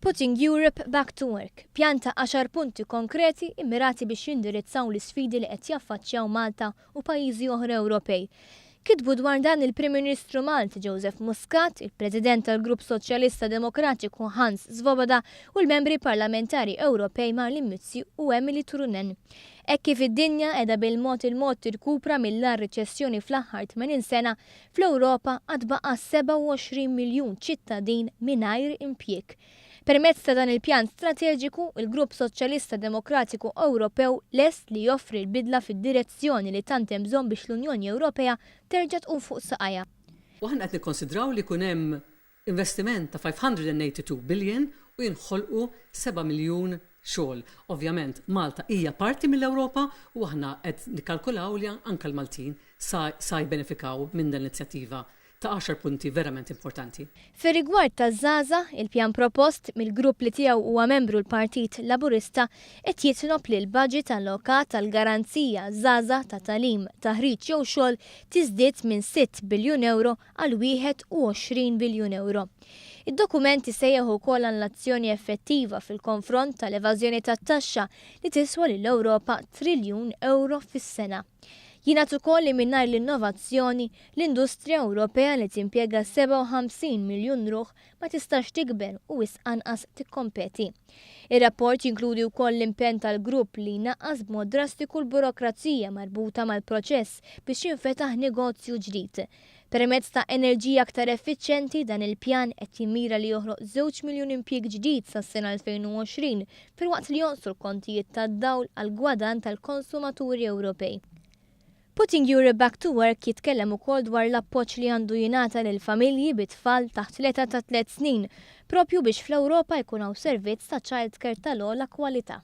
Putting Europe Back to Work pjanta għaxar punti konkreti mmirati biex jindirizzaw l-isfidi li qed jaffaċċjaw Malta u pajjiżi oħra Ewropej. Kitbu dwar dan il-Prim Ministru Malti Joseph Muscat, il-President tal-Grupp Soċjalista Demokratiku Hans Swoboda u l-Membri Parlamentari Ewropej Marlene Mizzi u Emilie Turunen. Hekk kif id-dinja qiegħda bil-mod il-mod tirkupra mill-agħar riċessjoni fl-aħħar 80 sena, fl-Ewropa għad baqa' 27 miljun ċittadin mingħajr impjieg. Permezz ta' dan il-pjan strateġiku, il-Grupp Soċjalista Demokratiku Ewropew lest li joffri l-bidla fid-direzzjoni li tant hemm bżonn biex l-Unjoni Ewropea terġa' tqum fuq saqajha. U aħna qed nikkonsidraw li jkun hemm Investiment ta' 582 billion u jinħolqu seba' miljun xogħol. Ovvjament, Malta hija parti mill-Ewropa u aħna qed nikkalkulaw li anke l-Maltin sa sa jibbenefikaw minn dan l-inizjattiva ta' għaxar punti verament importanti. Fir-rigward taż-żgħażagħ, il-pjan propost, mill-grupp li tiegħu huwa membru l-Partit Laburista, qed jitlob li l-baġit allokat għal garanzija għaż-żgħażagħ ta' tagħlim, taħriġ jew xogħol tiżdied minn sitt biljun ewro għal 21 biljun ewro. Id-dokument isejjaħ ukoll għal azzjoni effettiva fil-konfront tal-evażjoni tat-taxxa li tiswa lill-Ewropa triljun ewro fis-sena. Jingħad ukoll li mingħajr l-innovazzjoni, l-industrija Ewropea li timpjega 57 miljun ruħ ma tistax tikber u wisq anqas tikkompeti. Ir-rapport jinkludi wkoll l-impenn tal-Grupp li jnaqqas b'mod drastiku l-burokrazija marbuta mal-proċess biex jinfetaħ negozju ġdid, Permezz ta' enerġija aktar effiċjenti, dan il-pjan qed jimmira li joħloq żewġ miljun impjieg ġdid sas-sena 2020 filwaqt li jonqsu l-kontijiet tad-dawl għall-gwadann tal-konsumaturi Ewropej. Putting Europe Back to Work jitkellem ukoll dwar l-appoġġ li għandu jingħata lil familji bi tfal taħt l-età ta' tliet snin, proprju biex fl-Ewropa jkun hawn servizz ta' childcare tal-ogħla kwalità.